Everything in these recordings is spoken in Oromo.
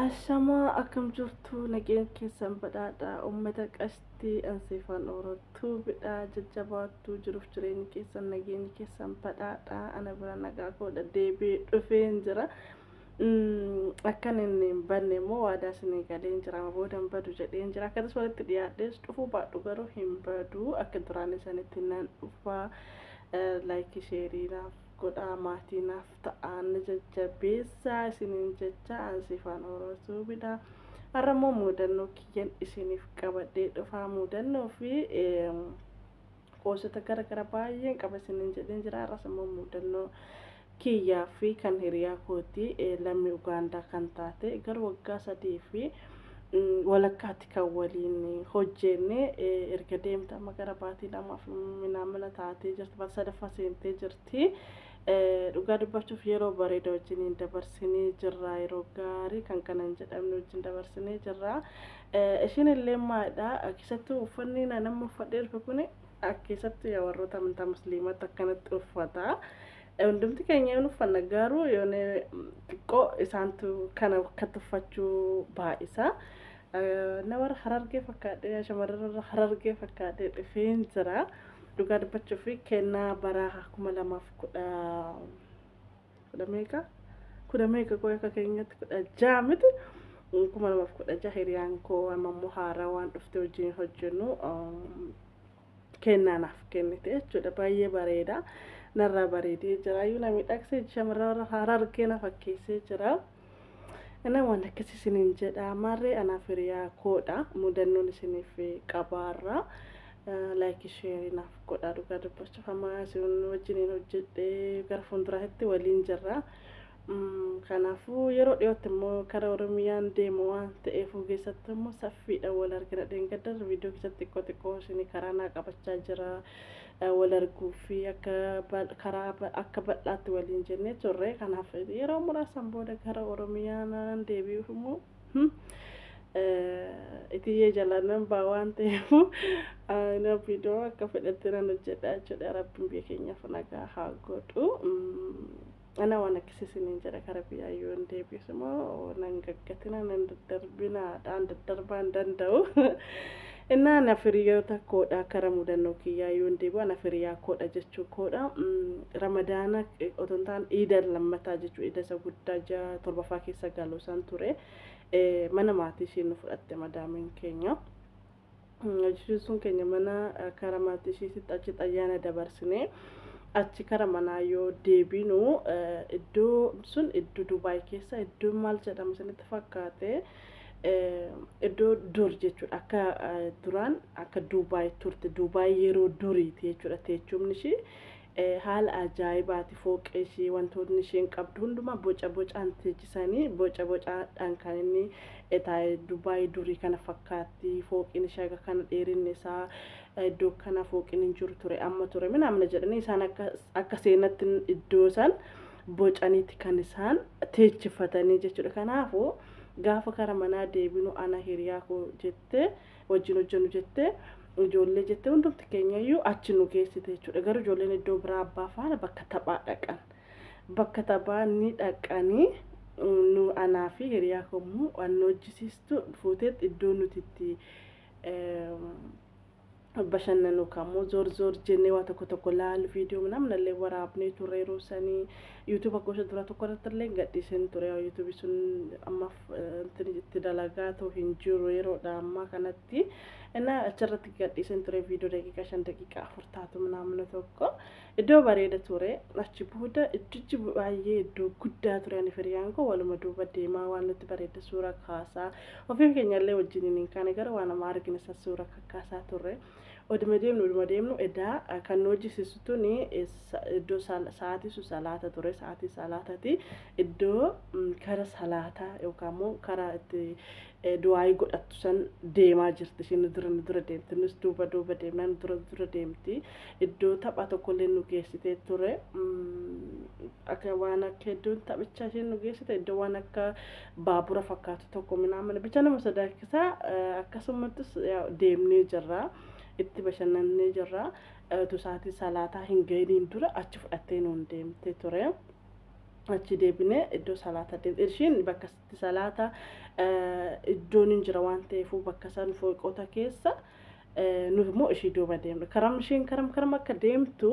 Ashamaa akkam jirtu nageen keessan badhaadha uummata qashtii ansiifaan oorottuu bidha jajjabaattuu jiruuf jireenyi keessan nageenyi keessan badhaadha ana bira nagaa koodha deebi'ee dhufeen jira akkan inni hin banne immoo waadaa isinii galeen jira amma booda hin badu jedheen jira akkatas walitti dhiyaadhees dhufuu baadhu garuu hin badu akka duraan isanitti nan dhufaa laayikii sheerii naaf godhaa maatii naaf ta'aa na jajjabeessaa isiniin jechaa an sifaan oro tuubidha har'a immoo muudannoo kiyyan isiniif qabadhee dhufaa muudannoo fi qoosota gara gara baay'een qaba isiniin jedheen jira har'as immoo muudannoo kiyyaa fi kan hiriyaa kooti lammii ugaandaa kan taate gara waggaa sadii fi walakkaatti kan waliin hojjenne erga deemte amma gara baatii lamaaf minaamina taatee jirti baatii sadaffaa seentee jirti Dhugaa dubbachuuf yeroo bareeda wajjiniin dabarsinee jirra. Yeroo gaarii kan kana hin jedhamne wajjin dabarsinee jirra. Ishiin illee maadha. Keessattuu uffanni naan amma uffadhee dhufe kun keessattuu yaa warroota amantaa musliimaatti akkanatti uffata. Hundumti keenya hin uffanna garuu yoone xiqqoo isaantu kana akka tuffachuu baay'isa. Ana warra harargee fakkaadhee yaa shamarran warra harargee fakkaadhee dhufeen jira. Dhugaa dubbachuuf kennaa bara kuma lamaaf kudha kudha meeqa kudha meeqa koo akka keenyatti kudha ja'a miti kuma lamaaf kudha ja'a hiriyaan koo amma immoo haaraa waan dhufte wajjin hojjennu kennaa naaf kennite jechuudha baay'ee bareeda narraa bareedee jira iyyuu na miidhagsee shamarran warra haaraa argee na fakkeessee jira inni waan akkas isiniin jedha maarree anaaf hiriyaa koodha mudannoon isiniif qabaarra laayikii sheerii naaf godhaa dhugaa dubbachuuf amma isin wajjiniin hojjedhee gara fuulduraatti waliin jirra Kanaafuu yeroo dhiyootti immoo kara Oromiyaan deemu waan ta'eefuu keessatti immoo saffiidhaan wal argina dheengadda viidiyoo keessatti xiqqoo xiqqoo isin karaa naa qabachaa jira wal arguu fi akka karaa akka bal'aatti waliin jennee turre kanaaf yeroo muraasan booda kara Oromiyaan deebi'uuf immoo itiyee jalaanan baa waan ta'eefuu na viidiyoo akka fedhetti nan hojjedha jechuudha rabbiin biyya keenyaaf nagaa haa godhu. Ana waan akkasii isiniin jedha kara biyyaa yoo hin deebi'es immoo nan gaggatina nan daddarbinaadhaan daddarbaa hin danda'u. Innaa na firiyoota koodha kara mudannoo kiyyaa yoo hin deebi'u ana firiyaa koodha jechuu koodha. Ramadaana otoo hin taane iida lammataa jechuu iida isa guddaa ji'a torbaffaa keessa galu san ture. Mana maatii isheen nu fudhatte madaamiin keenya. Jechuun keenya mana kara maatii ishiititti achitti ayyaana dabarsinee achi kara manaa yoo deebinu iddoo sun iddoo Dubaay keessa iddoo maal jedhama isinitti fakkaate iddoo dur jechuudha akka duraan akka Dubaay turte Dubaay yeroo duriiti jechuudha teechumni ishii Haala ajaa'ibaati fooqee ishii wantootni isheen qabdu hundumaa boca bocaan teechisanii boca bocaadhaan kan inni taa'e Dubaay durii kana fakkaatti fooqiin ishee akka kana dheerinni isaa iddoo kana fooqiin hin jiru ture amma ture minaamna jedhanii isaan akka akka seenatti iddoo san bocaniiti kan isaan teechifatanii jechuudha kanaafuu gaafa kara manaa deebinu ana hiriyaa koo jettee wajjin hojjennu jettee ijoollee jettee hundumti keenya iyyuu achi nu geessite jechuudha. Garuu ijoolleen iddoo biraa abbaa faana bakka taphaa dhaqan. Bakka taphaa ni dhaqanii nu anaa fi hiriyaa kommuu waan hojjisiistu fuuteetti iddoo nuti itti bashannanu kammoo zoor zoor jennee waa tokko tokko laalu viidiyoo namna illee waraabnee turre yeroo sanii yuutuuba gosa dura tokko irratti illee gadhiiseen ture yuutuubi sun amma itti dalagaatu hin jiru yeroodha ammaa kanatti innaa achirratti gadhiisin ture viidiyoo daqiiqaa shan daqiiqaa afur taatu naamna tokko iddoo bareeda ture achi booda iddichi baay'ee iddoo guddaa ture ani firiyaan koo waluma duuba deemaa waan nutti bareeda suura kaasaa ofiin keenyallee wajjin hin kaane gara waan amma argine san suura kakkaasaa turre. Oduma deemnu oduma deemnu edaa kan nu hojjisiisu tuni iddoo sa'aatii sun salaata ture sa'aatii salaatati iddoo kara salaataa yookaan immoo karaa itti du'aayii godhattu san deemaa jirti isheen nu dura nu dura deemti nus duuba duuba deemnaa nu dura nu dura deemti iddoo tapha tokkollee nu geessitee ture akka waan akka iddoon taphicha isheen nu geessite iddoo waan akka baabura fakkaatu tokko minaamin bicha nama sodaachisa akkasumattis deemnee jirra itti bashannannee jirra tusaatii salaataa hin ga'iniin dura achi fudhattee nuun deemte ture. achi deebinee iddoo salaata deemte ishiin bakka itti salaata iddoon hin jira waan ta'eef bakka san fooqota keessa nu immoo ishii duuba deemne karam isheen karam karam akka deemtu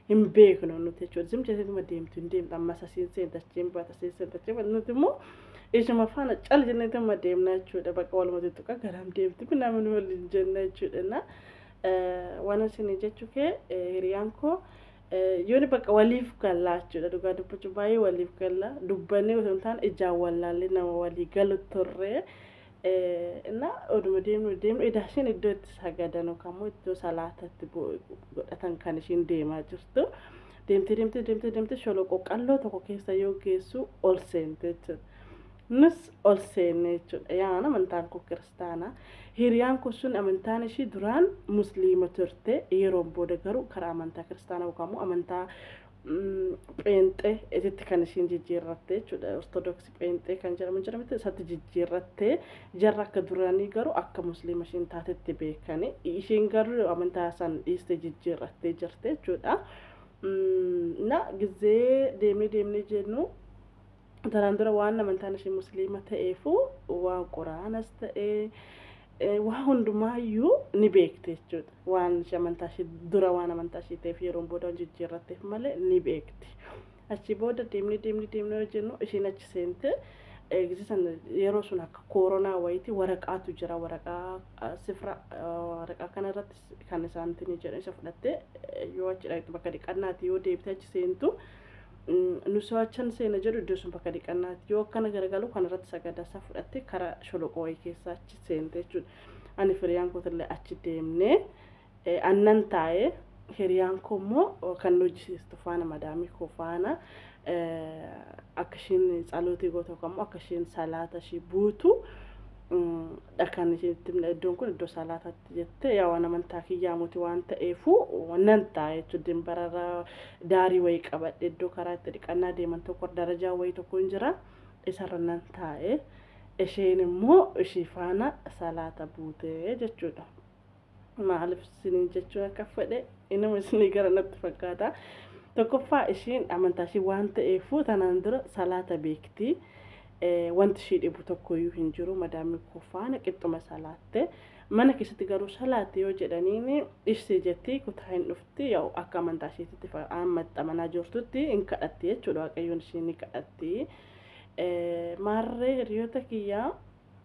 hin beeknu nuti jechuudha. Zim jechuun deemtu hin deemtu ammas asiin seenta achiin baata asiin seenta achiin baata nuti immoo ishuma faana cal jennee dhimma deemna jechuudha. Bakka walumatti tuqa garam deemti namni waliin jenna jechuudha. Na waan isin jechuu kee hiriyaan koo yooni bakka waliif gallaa jechuudha. Dhugaa dubbachuu baay'ee waliif gallaa dubbannee osoo hin taane ijaan wallaallee nama walii galu turre. Innaa oduma deemnu deemnu edaa isheen iddoo itti sagadan yookaan immoo iddoo salaata itti godhatan kan isheen deemaa jirtu. Deemtee deemtee deemtee deemtee sholoqoo qalloo tokko keessa yoo geessu ol seente jechuudha. Nus ol seenne jechuudha. Yaa amantaan koo kiristaana. Hiriyaan koo sun amantaan ishii duraan musliima turte. Yeroon booda garuu karaa amantaa kiristaanaa yookaan immoo amantaa pheenxee ititti kan ishiin jijjiirrattee jechuudha. Ortodoksii pheenxee kan jedhamu jira miti isatti jijjiirrattee jarra akka duraanii garuu akka musliima ishiin taatetti beekani. Ishiin garuu amantaa san dhiistee jijjiirrattee jirti jechuudha. Na gizee deemee deemnee jennu Tanaan dura waan amantaan ishee musliima ta'eefuu waan quraanas ta'ee eh, waa hundumaayyuu ni beekte jechuudha. Waan ishee amantaa ishee dura waan amantaa ishee ta'eef yeroon booda waan jijjiirratteef malee ni beekti. Achi booda deemnee deemnee deemnee yoo jennu isheen achi seente eegisi sana yeroo sun akka kooronaa wayiiti waraqaatu jira waraqaa ah, sifra ah, waraqaa kana irratti kan isaantiin jedhan isa fudhattee eh, yoo achi dhaqxu bakka dhiqannaati yoo deebitee achi seentu Nusaachan seena jedhu iddoo sun bakka dhiqannaati. Yoo akkana garagalu kanarratti sagadasaa fudhattee karaa sholoqoo wayii keessaa achi seente jechuudha. Ani firiyaan kootillee achi deemnee annan taa'ee hiriyaan koo immoo kan hojjisiistu faana madaamii koo faana akka isheen tsalootii gootu yookaan immoo akka isheen salaata ishee buutu dhakaan isinitti himna iddoon kun iddoo salaataatti jette yaa waan amantaa kiyyaa muti waan ta'eefu nan ta'a jechuun dimbararra daarii wayii qabadhe iddoo karaa itti dhiqannaa deeman tokko darajaa wayii tokko hin jira isarra nan taa'e isheen immoo ishii faana salaata buute jechuudha. maalif isiniin jechuu akka fedhe inuma isinii gara natti fakkaata tokkoffaa ishiin amantaa ishii waan ta'eefuu tanaan dura salaata beekti Eh, wanti ishii dhibu tokkoyyuu hin jiru madaamii koo faana qixxuma salaatte mana keessatti garuu salaatti yoo jedhaniin ishii jetti kutaa hin dhufti yaa'u akka amantaa ishiititti fa- amma itti amanaa jirtutti hin kadhatti jechuudha waaqayyoon ishii ni kadhatti Eh, maarree hiriyoota kiyyaa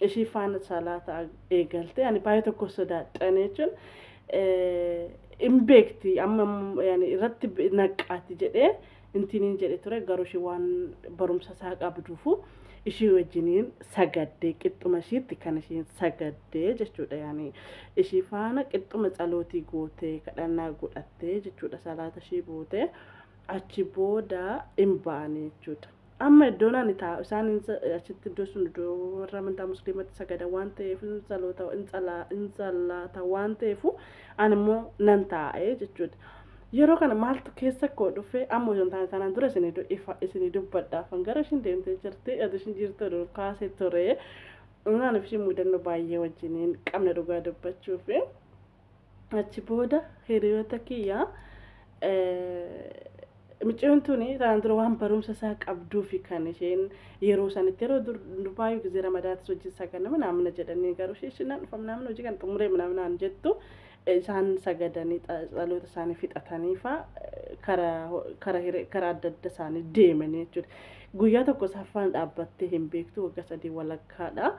ishii faana salaata eegalte ani baay'ee tokko sodaadhan jechuun hin beekti amma irratti naqqaati jedhee intiniin jedhe ture garuu ishii waan barumsa isaa qabduufu ishii wajjiniin sagaddee qixxuma ishiitti kan ishiin sagaddee jechuudha yaani ishii faana qixxuma tsalootii gootee kadhannaa godhattee jechuudha salaata ishii bootee achi booda hin baane jechuudha. Amma iddoon ani taa'u isaan hin sa- achitti iddoo sun iddoo warra amantaa musliimatti sagadan waan ta'eef hin saloota hin salaa hin salaata waan ta'eef ani immoo nan taa'e jechuudha. Yeroo kana maaltu keessa koo dhufe amma osoo hin taane sanaan dura isinii du- ifa isinii dubbadhaaf kan gara ishiin deemtee jirti adu ishiin jirtu dur kaasee ture. Naaniif ishii mudannoo baay'ee wajjiniin qabna dhugaa dubbachuufi. achi booda hiriyoota kiyya Micciyoon tuni tanaan dura waan barumsa isaa qabduufi kan isheen yeroo sanitti yeroo durbaayu gizee ramadaatis hojii isaa kana manaamina jedhanii garuu ishee ishinaan dhufa manaamina hojii kan xumuree manaaminaan jettu isaan sagadanii dhaloota isaanii fixatanii faa kara adda adda isaanii deemanii jechuudha. Guyyaa tokko saffaan dhaabbattee hin beektu waggaa sadii walakkaadha.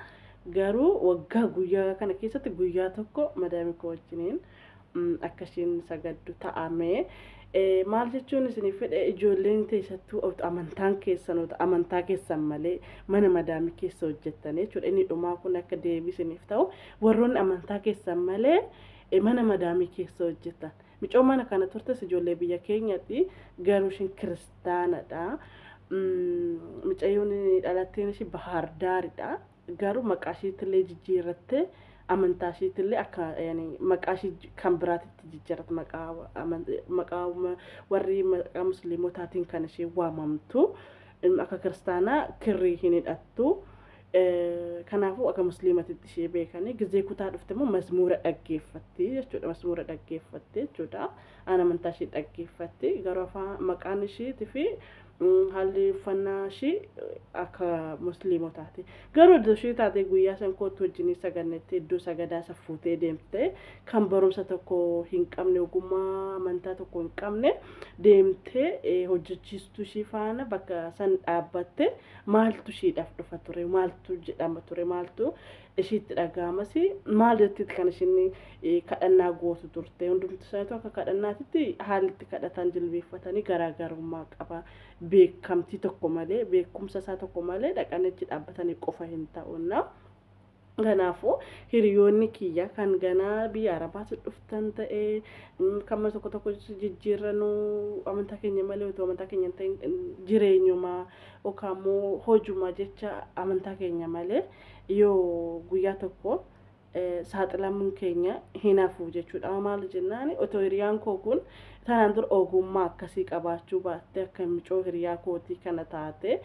Garuu waggaa guyyaa kana keessatti guyyaa tokko madaami koo wajjiniin akka ishiin sagaddu ta'ame. Maal jechuun isiniif fedhe ijoolleen teessattuu amantaan keessanoota amantaa keessan malee mana madaami keessa hojjettanii jechuudha. Inni dhumaa kun akka deebii isiniif ta'u warroonni amantaa keessan malee mana madaamii keessa hojjetan. Micoo mana kana turtes ijoollee biyya keenyatti garuu ishiin kirist kiristaanadha. Mucayyoon dhalatteen ishii Bahaar Daaridha. Garuu maqaa ishiitillee jijjiirrattee amantaa ishiitillee akka maqaa ishii kan biraatitti jijjiirratte maqaa warri maqaa musliimotaatiin kan ishee waamamtu akka kiristaanaa kirrii hin hidhattu. Kanaafuu akka musliimatitti ishee beekanii gizee kutaa dhufte immoo mazmuura dhaggeeffatti jechuudha. Mazmuura dhaggeeffatti jechuudha. Aan amantaa ishii dhaggeeffatti garuu afaan maqaan ishiiti fi haalli uffannaa ishii akka musliimotaati. Garuu iddoo ishii taatee guyyaa san kootti wajjinii sagannetti iddoo sagadaa isa fuutee deemtee kan barumsa tokko hin qabne ogummaa amantaa tokko hin qabne deemtee hojjechiistuu ishii faana bakka san dhaabbatte maaltu ishiidhaaf dhufa ture maaltu jedhama ture maaltu ishiitti dhaga'amas maal jettiitti kan ishiin kadhannaa gootu turte hundumti isaaniitu akka kadhannaatitti haalli itti kadhataan jilbeeffatanii garaagarummaa qaba beekamtii tokko malee beekumsa isaa tokko malee dhaqanii achi dhaabbatanii qofa hin ta'uunna. Kanaafuu hiriyoonni kiyya kan ganaa biyya arabaatti dhuftan ta'e kan mana tokko tokko jijjiirranuu amantaa keenya malee utuu amantaa keenya hin ta'in jireenyumaa yookaan immoo hojumaa jecha amantaa keenya malee Yoo guyyaa tokko saaxilamuun keenya hin hafu jechuudha. Maal jennaan otoo hiriyaan koo kun tanaan dura ogummaa akkasii qabaachuu baattee akka micoo hiriyaa kootii kana taate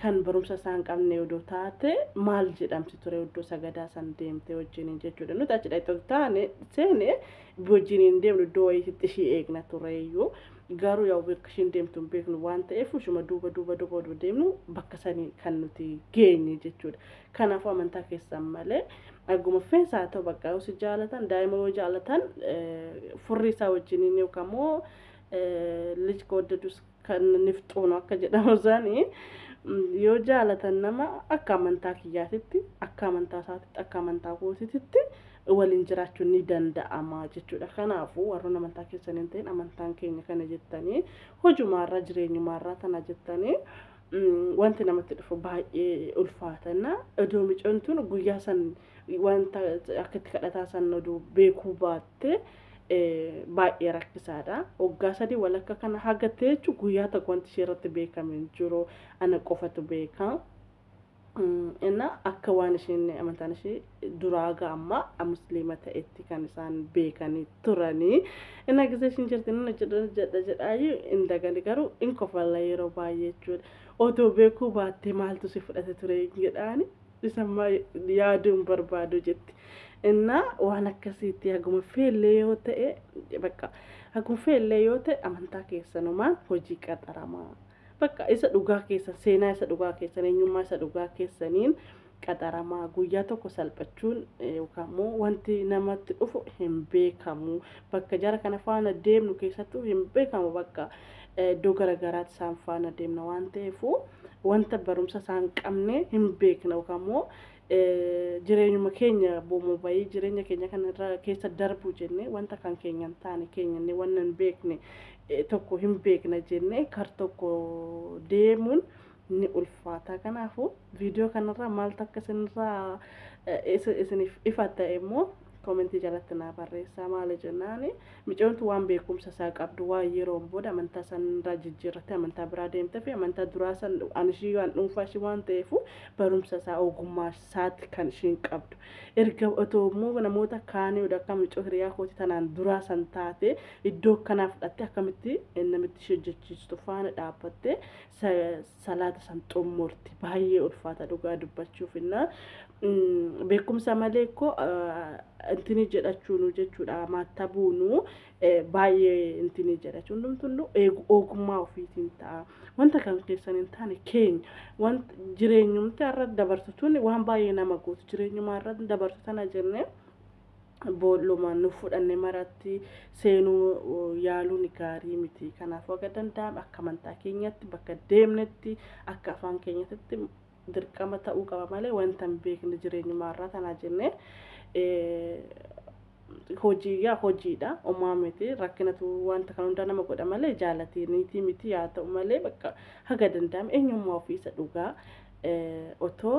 kan barumsa isaa hin qabne odoo taate maal jedhamti ture iddoo sagadaa san deemtee wajjiniin jechuudha. Nuti achi dhaqxoota taane seene wajjiniin deemnu iddoo wayiitti ishii eegna tureeyyuu Garuu yaw bakka ishiin deemtu hin beeknu waan ta'eef ishuma duuba duuba duuba odoo deemnu bakka sanii kan nuti geenye jechuudha. Kanaafuu amantaa keessan malee agguma feensa haa ta'u bakka yoo si jaalatan daa'ima yoo jaalatan furrii isaa wajjiniin yookaan immoo lij kawaddadus kan nifxuunu akka jedhamu sanii yoo jaalatan nama akka amantaa kiyyaatitti akka amantaa isaatitti akka amantaa kootiititti waliin jiraachuun ni danda'ama jechuudha. Kanaafuu warroon amantaa keessan hin ta'in amantaan keenya kana jettanii hojumaarraa jireenyumaarraa tana jettanii mm, wanti namatti dhufu baay'ee ulfaatanna. Odoo micoon tun guyyaa san wanta akka itti kadhataa san oduu beekuu baatte eh, baay'ee rakkisaadha. Waggaa sadii walakka kana hagattee jechuun guyyaa tokko wanti ishee irratti beekame hin jiru ana qofatu beeka. Innaa akka waan isheen amantaan ishee duraa haga ammaa musliima ta'etti kan isaan beekanii turanii. Innaa gisee ishiin jirti inni hojjedha hojjedha jedhaayyuu hin dagani garuu hin kofalla yeroo baay'ee jechuudha. Otoo beekuu baattee maaltu si fudhate ture jedhaani isammaa yaaduu hin barbaadu jetti. Innaa waan akkasiitti haguma feellee yoo ta'e bakka haguma feellee yoo ta'e amantaa keessanumaan hojii qaxaramaa. Bakka isa dhugaa keessan, seenaa isa dhugaa keessan, eenyummaa isa dhugaa keessaniin qaxaramaa guyyaa tokko salphachuun yookaan immoo wanti namatti dhufu hin beekamu. Bakka jara kana faana deemnu keessattuu hin beekamu bakka iddoo garaagaraatti isaan faana deemna waan ta'eef wanta barumsa isaan qabne hin beekna yookaan immoo jireenyuma keenya boomo bayii jireenya keenya kana irra keessa darbu jenne wanta kan keenya hin taane keenya inni wanna hin beekne eh, tokko hin beekna jenne kar tokko deemuun ni ulfaata kanaafuu viidiyoo kanarraa maaltu akka isinirraa eh, isin- isiniif ifa ta'e immoo Komentii jalatti naa barreessaa maali jennaan micoontu waan beekumsa isaa qabdu waan yeroon booda amantaa san irraa jijjiirrattee amantaa biraa deemtee fi amantaa duraa san an ishii waan dhuunfaa ishii waan ta'eefu barumsa isaa ogummaa isaati kan ishiin qabdu erga otoo immoo namoota kaanii oda akka micoo hiriyaa kooti tanaan duraa san taate iddoo akkanaa fudhattee akkamitti namitti ishee hojjechiistu faana dhaabbattee salaata san xummurti baay'ee ulfaata dhugaa dubbachuuf innaa beekumsa malee koo intini jedhachuunu jechuudha maatta buunu baay'ee intini jedhachu hundumtunnu ogummaa ofiitiin ta'a wanta kan keessan hin taane keenya wanta jireenyumti irra dabartu tuni waan baay'ee nama gootu jireenyumaa irra dabartu tana jennee boolluma nu fudhanne maratti seenuu yaaluun gaarii miti. Kanaafuu haga danda'ame akka amantaa keenyatti bakka deemnetti akka afaan keenyatti dirqama ta'uu qaba malee wanta hin beekne jireenyuma irraa tanaa jennee hojii yaa hojiidha umaa miti rakkinatu wanta kan hundaa nama godha malee jaalatiiniitii miti yaa ta'u malee bakka haga danda'ame eenyummaa ofiisa dhugaa otoo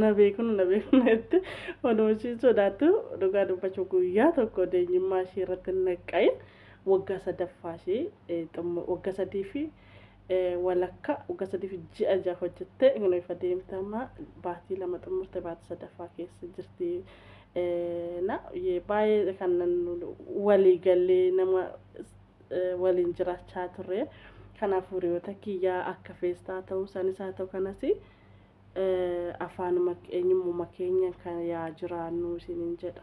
na beeknu na beeknu jette oduu ishii sodaattu dhugaa dubbachuuf guyyaa tokko deenyummaa ishii irratti hin naqqa'in waggaa sadaffaa ishii waggaa sadii fi walakka waggaa sadii fi ji'a ja'a hojjette kunoo ifa deemtama baatii lama xumurte baatii sadaffaa keessa jirti na baay'ee kan walii gallee nama waliin jiraachaa turre kanaaf hiriyoota kiyyaa akka feestaa ta'uu isaaniis haa ta'u kanasii. afaanuma eenyummuma keenyan kan yaa jiraannuu isinin jedha.